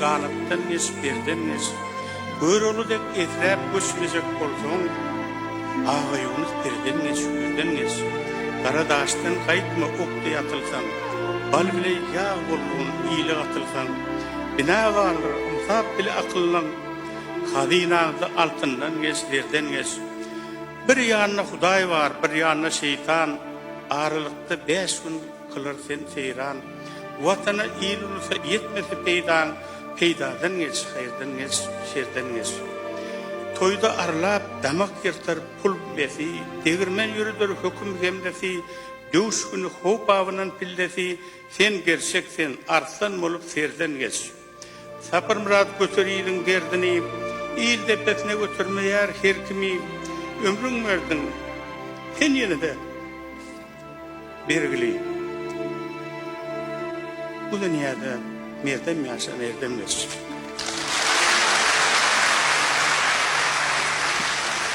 Galykdan geç, birden geç. Görogly dek esräp göçmejek bolsaň, Aga Ýunus birden geç, ýüzden geç. Gara daşdan gaýtma ok deý atylsaň, Bal bile ýag bolgun ile gatylsaň. Binagardyr, ynsap bile akyllyň, Hazynaňda altyndan geç, zerden geç. Bir ýanda Hudaý bar, bir ýanda şeýtan, Aralykda bäş gün kylar sen seýran. Watana, il-ulusa ýetmese peýdaň, Peýdadan geç, haýyrdan geç, şerden geç. Toýda arlap, damak ýyrtar pul besi, Degirmen ýöreder höküm hemlesi, Döwüş güni how-babyndan pillesi, Sen gerçek sen, arslan bolup serden geç. Sapyrmyrat göter iliň derdini, Il depesine götermeýär her kimi. Ömrüň berdiň sen ýene-de bergili. Bu dünýäde merdem ýaşa, merdem geç.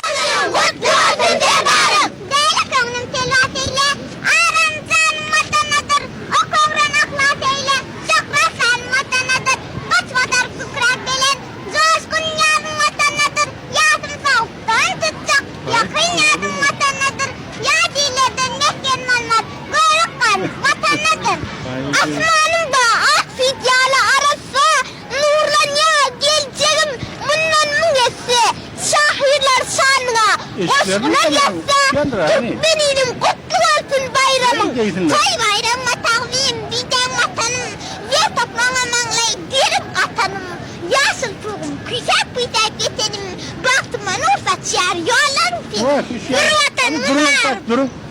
Ömrüň gutly bolsun Serdarym! Beýle köňlüm telwas eýle, Aram janym watanadyr, Ok ogran yhlas eýle, Şöhratlan Watanadyr, Goçbatar kükrap gelen joşgun Ýazym Watanadyr, ýasym sowuk don tutjak Ýakyn ýazym Watanadyr, ýat illerden mesgen bolmaz Görük gan Watanadyr. Asmanymda ak süýt ýaly arassa Nurlanýar geljegim mundan müň esse. Şahyrlar şanyňa goşgular ýazsa, Türkmeniniň gutly bolsun baýramyň, Toý baýramyňa tagzym, diýseň Watanym, Ýer topragyňa maňlaý gerip gatanym, Ýaşyl tugum küýsäp-küýsäp ýetenim, Bagtyma nur saçýar ýollaryň seniň, Bir Watanym bar!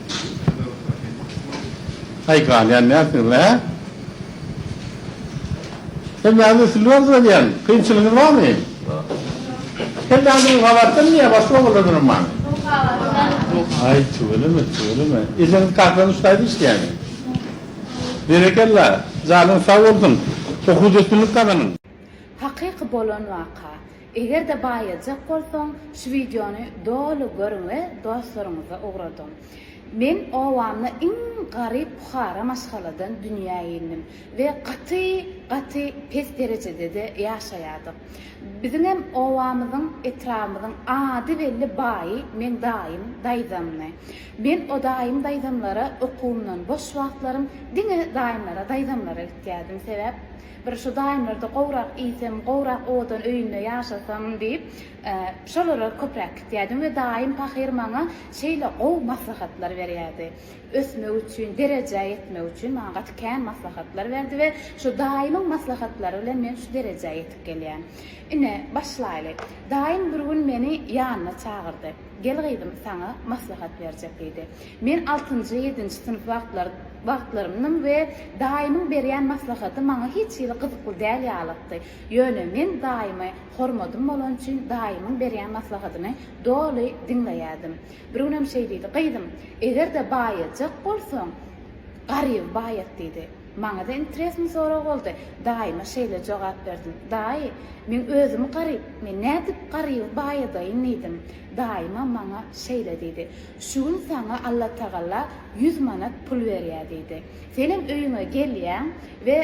Aý galýan nätdiňiz hä? Kelläňizi ötürdiberdiniz diýýän. Kynçylygyňyz barmy? Kelläňizi gabartdym diýýä başga ogullaryňam barmy? Aý tüweleme tüweleme. Ejeňiz kakanyň ştaýda işleýärmi? Berekella. Janyňyz sag bolsun. Okuwda üstünlik gazanyň. Hakyky bolan waka. Eger-de baýajak bolsaň şu wideony doly görüň we dostlaryňyza ugradyň. Men obamda iň garyp puhara maşgaladan dünýä indim we gaty gaty pes derejedede ýaşaýardyk. Biziňem obamyzyň etrabymyzyň ady belli baýy meň daýym daýzamdy. Men o daýym daýzamlara okuwymdan boş wagtlarym diňe daýymlara daýzamlara gitýärdim sebäp Bir şu daýymlarda gowrak iýsem, gowrak owadan öýünde ýaşasam diýip, şolara köpräk gitýärdim we daýym pahyr maňa şeýle gowy maslahatlar berýärdi. Ösmek üçin, derejä ýetmek üçin maňa gaty kän maslahatlar berdi we şu daýymyň maslahatlary bilen men şu derejä ýetip gelýän. Ine, başlaýly. Daýym bir gün meni ýanyna çagyrdy. Gel gyzym, saňa maslahat berjek diýdi. Men altynjy, ýedinji synp wagtlary, wagtlarymdym we daýymyň berýän maslahaty maňa hiç hili gyzykly däl ýalykdy. Ýöne men daýymy hormadym bolany üçin daýymyň berýän maslahatyny doly diňleýärdim. Bir günem şeý diýdi, Gyzym, eger-de baýajak bolsaň, garyby baýat diýdi. Maňa-da interesny sorag boldy. Daýyma şeýle jogap berdim, Daýy, meň özüm garyp, men nädip garyby baýadaýyn diýdim. Daýymam maňa şeýle diýdi. Şu gün saňa Allatagala ýüz manat pul berýär diýdi. Senem öýüňe gelýäň we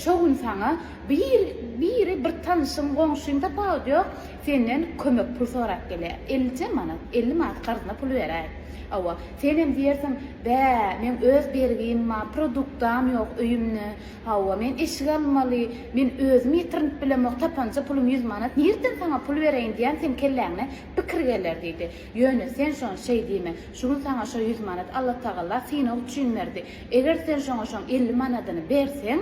şo gün saňa bir biri bir tanyşyň, goňşyň tapawudy ýok, senden kömek pul sorap gelýär. Ellice manat, elli manat karzyna pul beräý. Hawa, senem diýersiň, Bä, meň öz bergim bar, produktam ýok öýümde. Hawa, men eşik almaly, men özüm ýetirinip bilemok, tapanja pulum ýüz manat, nirden saňa pul bereýin diýen seň kelläňe pikir geler diýdi. Ýöne sen şony şeý diýme, şu gün saňa şo ýüz manat Allatagala synag üçin berdi. Eger sen şoňa şoň elli manadyny berseň,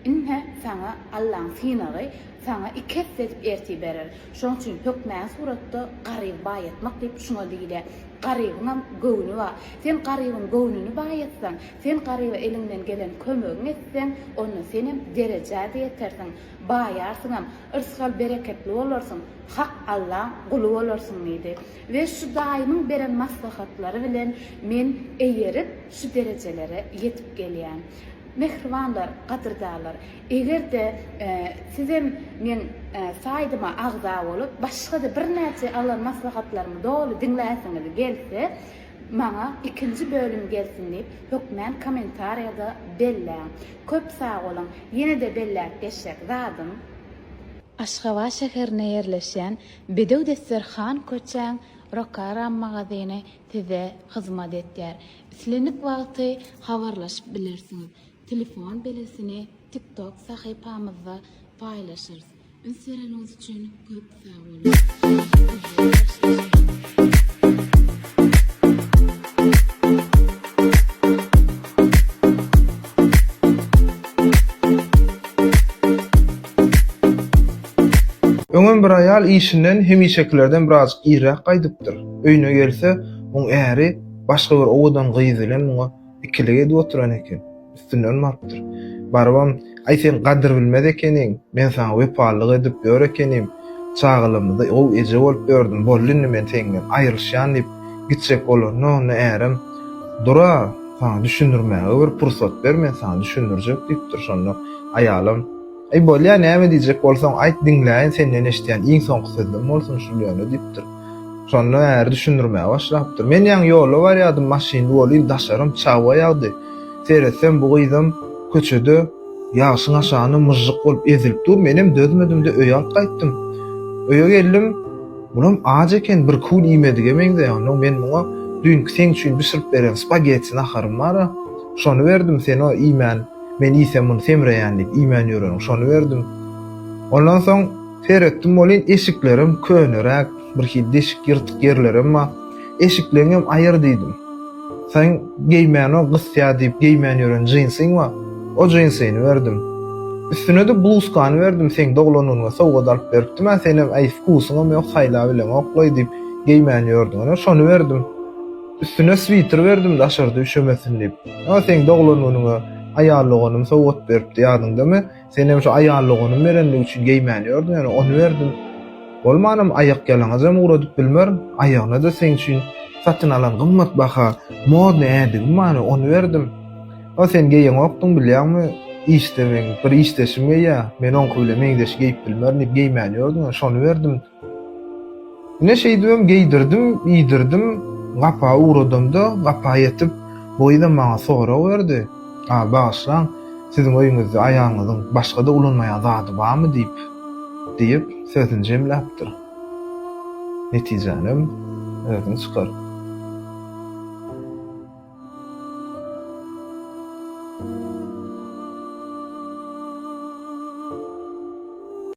ine, saňa Allaň synagy, saňa iki esse edip ertir berer. Şoň üçin hökmany suratda garyby baýatmak diýip şuňa diýilýär. Garybyňam göwni bar. Sen garybyň göwnüni baýatsaň, sen garyba eliňden gelen kömegiňi etseň, onda senem derejä-de ýetersiň. Baýarsyňam, yrsgal-bereketli bolarsyň, hak Allaň guly bolarsyň diýdi. We şu daýymyň beren maslahatlary bilen men eýerip, şu derejelere ýetip gelýän. Mähribanlar, gadyrdanlar, eger-de sizem meň saýdyma agza bolup, başga-da birnäçe alan maslahatlarymy doly diňläsiňiz gelse, maňa ikinji bölüm gelsin diýip, hökmän kommentariýada belläň. Köp sag boluň! Ýene-de belläp geçjek zadym. Aşgabat şäherinde ýerleşýän Bedew desterhan köçäň Rokaram magazyny size hyzmat etýär. Islendik wagty habarlaşyp bilersiňiz. Telefon belgisini TikTok sahypamyzda paýlaşarys. Üns bereniňiz üçin köp sag boluň. Öňem bir aýal işinden hemişekilerden birazjyk irräk gaýdypdyr. Öýüne gelse, oň äri başga bir owadan gyz bilen muňa Ikilik edip oturan eken. Üstünden barypdyr. Barybam, Aý, sen gadyr bilmez ekeniň. Men saňa wepalylyk edip ýör ekenim. Çagalygymyzda gowy eje bolup ýördüm. Boldy indi men seňden aýrylyşýan diýip gitjek bolanda, onda ärem, Dur-a, saňa düşündirmäge bir pursat ber, men saňa düşündirjek diýipdir. Şonda aýalam. Eý bolýa näme diýjek bolsaň aýt diňläýin senden eşidýän iň soňky sözlem bolsun şul ýöne diýipdir. Şonda äri düşündirmäge başlapdyr. Men ýaňy ýolda barýadym maşynly ol il daşarym çagba ýagdy. Seretsem bu gyzam köçede ýagşyň aşagynda myžžyk bolup ezilip dur menem dözmedimde öýe alyp gaýtdym. Öýe geldim bulam aç eken bir kül iýmedige meňzeýär onnoň men muňa düýnki seň üçin bişirip beren spagetti naharym bara şony berdim sen o iýmän Men iýsem muny semreýän diýip, iýmän ýöreniň şony berdim. Ondan soň seretdim welin, eşiklerem köneräk, birhili deşik, ýyrtyk ýerlerem bar. Eşikleňem aýyr diýdim. Seň geýmäniň gysýa diýip geýmän ýören jinsiň bar. O jinsyny berdim. Üstüne-de bluzkany berdim, seň doglangyňa sowgat alyp beripdim-ä, senem äý wkusyňam ýok, saýlabileňok-laý diýip, geýmän ýördüň, ine, şony berdim. Üstüne switer berdim daşarda üşemesin diýip. Ýa seň doglan günüňe aýal doganym sowgat beripdi ýadyňdamy? Senem şu aýal doganym berendigi üçin geýmän ýördüň ýöne ony berdim. Bolmanam aýakýalaňajam ugradyp bilmerin. Aýagyna-da seň üçin satyn alan gymmat baha modny ädigim bar ony berdim. Ýa sen geýeňokdyň bilýäňmi? Işde meň bir işdeşim geýýär. Men oňky bile meňzeş geýip bilmerin diýip geýmän ýördüň ýöne şony berdim. Ine, şeýdibem geýdirdim, iýdirdim. Gapa ugradamda, gapa ýetip, Boýza maňa sorag berdi, A, bagyşlaň, siziň öýüňizde aýalyňyzyň başga-da ulanmaýan zady barmy? diýip, diýip, sözüni jemläpdir. Netijänem özüň çykar.